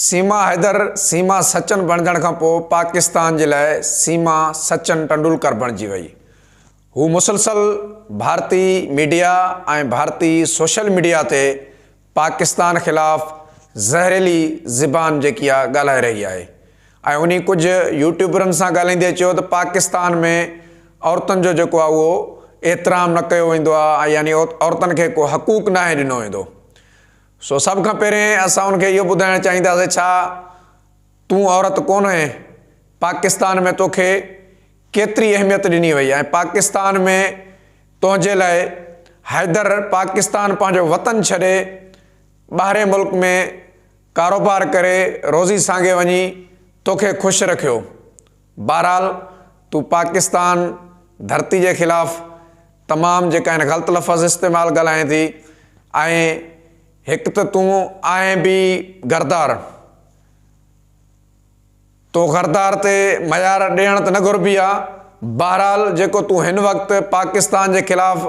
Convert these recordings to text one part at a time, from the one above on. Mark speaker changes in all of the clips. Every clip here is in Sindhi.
Speaker 1: سيما حيدر سيما سچن بڻجڻ کان پوء پاڪستان جي لاء سيما سچن ٽنڊولڪر بڻجي وئي. هو مسلسل ڀارتي ميڊيا ۽ ڀارتي سوشل ميڊيا تي پاڪستان خلاف زهريلي زبان جيڪي آ ڳالهائي رهي آهي ۽ انهي ڪجهه يوٽيوبرن سان ڳالهائيندي چيو ته پاڪستان ۾ عورتن جو جيڪو آ اهو احترام نه ڪيو ويندو آ يعني عورتن کي ڪو حقوق ناهي ڏنو ويندو. سو سڀ کان پهرين اسان ان کي اهو ٻڌائڻ چاهينداسين ڇا تون عورت ڪونه آهين؟ پاڪستان ۾ تو کي ڪيتري اهميت ڏني وئي ۽ پاڪستان ۾ تنهنجي لاء حيدر پاڪستان پنهنجو وطن ڇڏي ٻاهرين ملڪ ۾ ڪاروبار ڪري روزي سانگي وڃي تو کي خوش رکيو بهرحال تون پاڪستان ڌرتي جي خلاف تمام جيڪا آهن غلط لفظ استعمال ڳالهائين ٿي ۽ هڪ ته تون آهين به غردار تو غردار تي معيار ڏيڻ ته نه گهربي آ بهرحال جيڪو تون هن وقت پاڪستان جي خلاف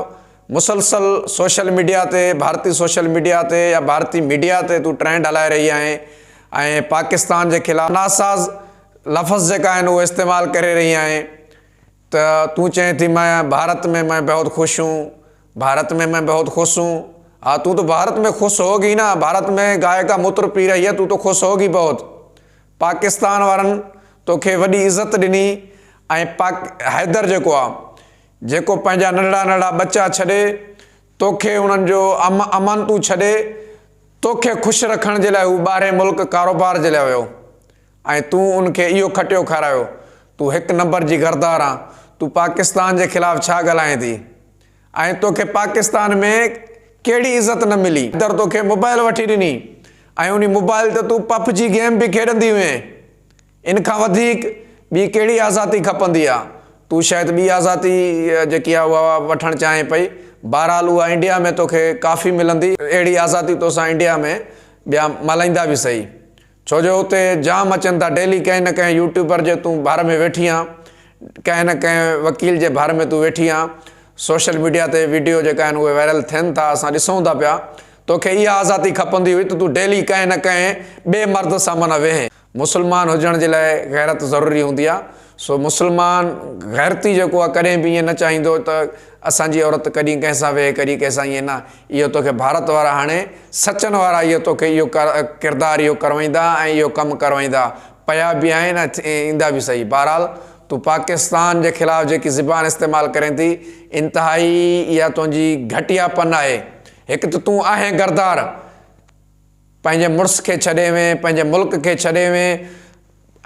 Speaker 1: مسلسل سوشل ميڊيا تي ڀارتي سوشل ميڊيا تي يا ڀارتي ميڊيا تي تون ٽرينڊ هلائي رهي آهين ۽ پاڪستان جي خلاف ناساز لفظ جيڪا آهن اهو استعمال ڪري رهي آهين ته تون چئين ٿي مئن ڀارت ۾ مئن بهت خوش هون ڀارت ۾ مئن بهت خوش هون ها تون تو ڀارت ۾ خوش هو گي نه ڀارت ۾ گائي کا متر پي رهي هي تون تو خوش هو گي بهت پاڪستان وارن توکي وڏي عزت ڏني ۽ پاڪ حيدر جيڪو آ جيڪو پنهنجا ننڍڙا ننڍڙا ٻچا ڇڏي توکي انهن جو ام امانتون ڇڏي توکي خوش رکڻ جي لاء هو ٻاهرين ملڪ ڪاروبار جي لاء ويو ۽ تون ان کي اهو کٽيو کارايو، تون هڪ نمبر جي غردار آن، تون پاڪستان جي خلاف ڇا ڳالهائين ٿي ۽ توکي پاڪستان ۾ ڪهڙي عزت نه ملي. حيدر توکي موبائل وٺي ڏني ۽ انهي موبائل تي تون پپ جي گيم به کيڏندي هئين، ان کان وڌيڪ ٻي ڪهڙي آزاتي کپندي آ، تون شايد ٻي آزاتي جيڪي آ اها وٺڻ چاهين پئي، بهرحال اها انڊيا ۾ توکي ڪافي ملندي، اهڙي آزاتي توسان انڊيا ۾ ٻيا ملهائيندا به سهي. ڇو جو اتي جام اچن ٿا ڊيلي ڪنهن نه ڪنهن يوٽيوبر جي تون ڀر ۾ ويٺي آن ڪنهن نه ڪنهن وڪيل جي ڀر ۾ تون ويٺي آن سوشل ميڊيا تي ويڊيو جيڪا آهن اهي وائرل ٿين ٿا اسان ڏسون ٿا پيا توکي اها آزادي کپندي هئي ته تون ڊيلي ڪنهن نه ڪنهن ٻئي مرد سان معنيٰ ويهين مسلمان هجڻ جي لاء غيرت ضروري هوندي آهي سو مسلمان غيرتي جيڪو آ ڪڏهن به ائين نه چاهيندو ته اسان جي عورت ڪڏهن ڪنهن سان ويهي ڪڏهن ڪنهن سان ائين نه اهو توکي ڀارت وارا هاڻي سچن وارا اهو توکي اهو ڪردار اهو ڪروائيندا ۽ اهو ڪم ڪروائيندا پيا به آهن ۽ ايندا به صحيح بهرحال تون پاڪستان جي خلاف جيڪي زبان استعمال ڪرين ٿي انتهائي اها تنهنجي گهٽيا پن آهي هڪ ته تون آهين غردار پنهنجي مڙس کي ڇڏي وئين، پنهنجي ملڪ کي ڇڏي وئين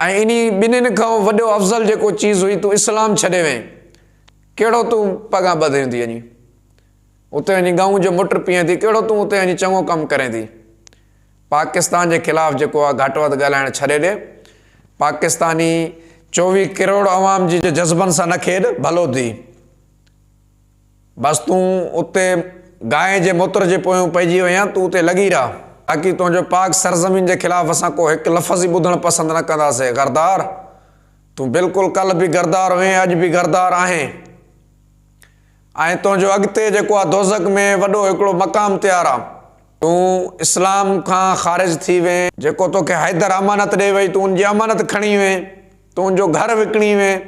Speaker 1: ۽ انهي ٻنهين کان وڏو افضل جيڪو چيز هئي تون اسلام ڇڏي وئين. ڪهڙو تون پڳان ٻڌين ٿي اڃي اتي وڃي ڳئون جو مٽ پيئين ٿي، ڪهڙو تون اتي وڃي چڱو ڪم ڪرين ٿي. پاڪستان جي خلاف جيڪو آ گهٽ وڌ ڳالهائڻ ڇڏي ڏي. پاڪستاني چوويهه ڪروڙ عوام جي جي جذبن سان نه کيڏ، ڀلو ٿي. بس تون اتي گانء جي موتر جي پويون پئجي وئين، تون اتي لڳي رهه، باقي تنهنجو پاڪ سرزمين جي خلاف اسان ڪو هڪ لفظ ئي ٻڌڻ پسند نه ڪنداسين، غردار! تون بلڪل ڪلهه به غردار هئين، اڄ به غردار آهين ۽ تنهنجو اڳتي جيڪو آ دوزخ ۾ وڏو هڪڙو مقام تيار آ، تون اسلام کان خارج ٿي وئين، جيڪو توکي حيدر امانت ڏئي وئي تون ان جي امانت کڻي وئين، تون ان جو گهر وڪڻي وئين،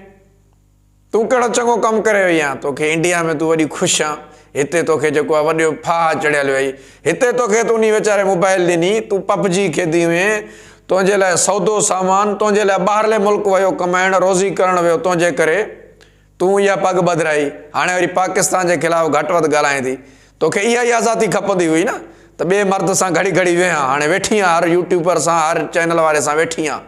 Speaker 1: تون ڪهڙو چڱو ڪم ڪري وئي آن توکي انڊيا ۾ تون وڏي خوش آن هتي توکي جيڪو آ وڏيو ڦاهه چڙهيل وئي هتي توکي ته انهي ويچاري موبائل ڏني تون پپ جي کيدي هئين تنهنجي لاء سودو سامان تنهنجي لاء ٻاهرلي ملڪ ويو ڪمائڻ روزي ڪرڻ ويو تنهنجي ڪري تون اها پڳ ٻڌرائي هاڻي وري پاڪستان جي خلاف گهٽ وڌ ڳالهائين ٿي توکي اها ئي آزادي کپندي هئي نه ته ٻي مرد سان گهڙي گهڙي ويهان هاڻي ويٺي آن هر يوٽيوبر سان هر چينل واري سان ويٺي آن.